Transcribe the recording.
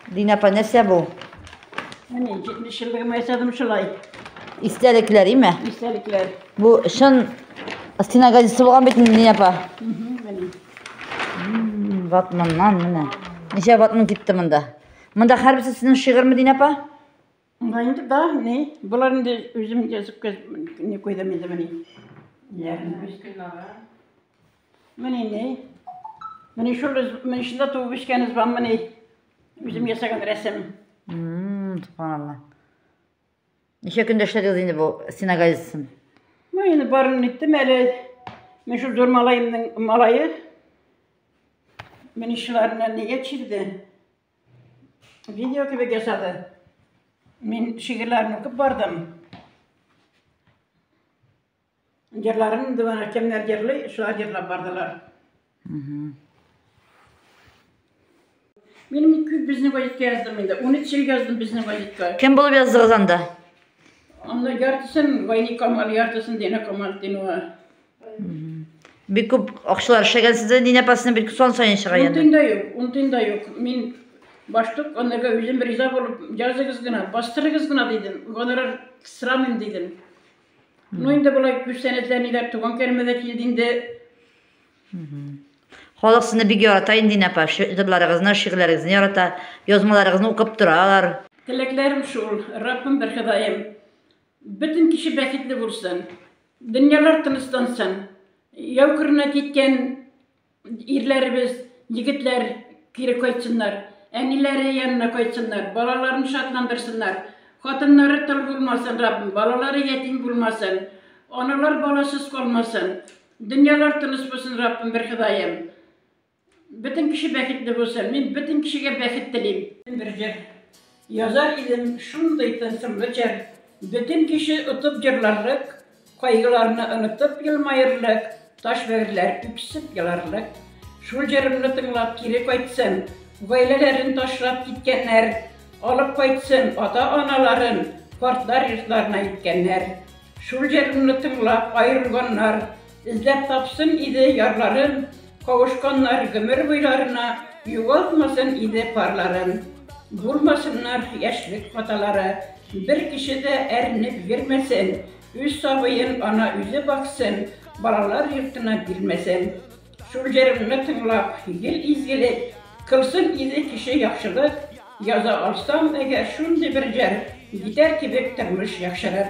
Дин апа, нәрсә бу? Менә 70 еллыгым ясадым шулай. Истәлекләр име? Истәлекләр. Бу чын стена газетасы булган бит инде, Дин апа. Ватманнан менә. Ничә ватман китте монда? Монда һәрберсе сезнең шигырьме, Дин апа? Монда инде да, ни, болар инде үзем язып не куйдым инде мени. Я. Мени не. Мени шул из, мени шунда туып үскән из бам мени. Үзем ясаган рәсем. Мм, субханалла. Ничә көндә эшләдегез инде бу стеногазисын? Ну, инде барын иттем әле. Мен шул зур малаемның малае. Мени шуларны нигә чирде? Видео кебек ясады. Мин шигырьләрен укып бардым. Җырларын инде бана кемнәр җырлый, шулар җырлап бардылар. Мин күп безнең газетка яздым инде. 13 ел яздым безнең газетка. Кем булып яздыгыз анда? Анда яртысын Вайни Камал, яртысын Дина Камал Динова. Бик күп акчалар эшләгәнсез дә, Нина Пасна бик сон саен чыга янда. Унтын да юк, унтын да юк. Мин баштык анарга үзем риза булып, языгыз гына, бастырыгыз гына дидем. Гонорар сорамыйм дидем. Ну инде болай күз сәнәтләр ниләр туган кәлмә дә килде инде. Халык сезне бик ярата инде, Нина апа. Җырларыгызны, шигырьләрегезне ярата, язмаларыгызны укып торалар. Теләкләрем шул, Раббым бер Ходаем. Бөтен кеше бәхетле булсын, дөньялар тынычлансын, яу кырына киткән ирләребез, егетләр кире кайтсыннар, әниләре янына кайтсыннар, балаларын шатландырсыннар, хатыннары тол булмасын, Раббым, балалары ятим булмасын, аналар баласыз калмасын, дөньялар тыныч булсын, Раббым, бер Ходаем. Бөтен кеше бәхетле булсын. Мин бөтен кешегә бәхет телим. Бер җыр язар идем, шундый тылсымлы җыр. Бөтен кеше отып җырларлык, кайгыларны онытып елмаерлык, таш бәгырьләр үксеп еларлык. Шул җырымны тыңлап кире кайтсын, гаиләләрен ташлап киткәннәр, алып кайтсын ата-аналарын картлар йортларына илткәннәр. Шул җырымны тыңлап аерылганнар, Эзләп тапсын иде ярларын, Кавышканнар гомер буйларына, Югалтмасын иде парларын, Булмасыннар яшьлек хаталары. Бер кеше дә әрнеп йөрмәсен, Үз сабыен ана үзе баксын, Балалар йортына бирмәсен. Шул җырымны тыңлап, гел изгелек, Кылсын иде кеше яхшылык. Яза алсам әгәр шундый бер җыр, Җитәр кебек тормыш яхшырыр.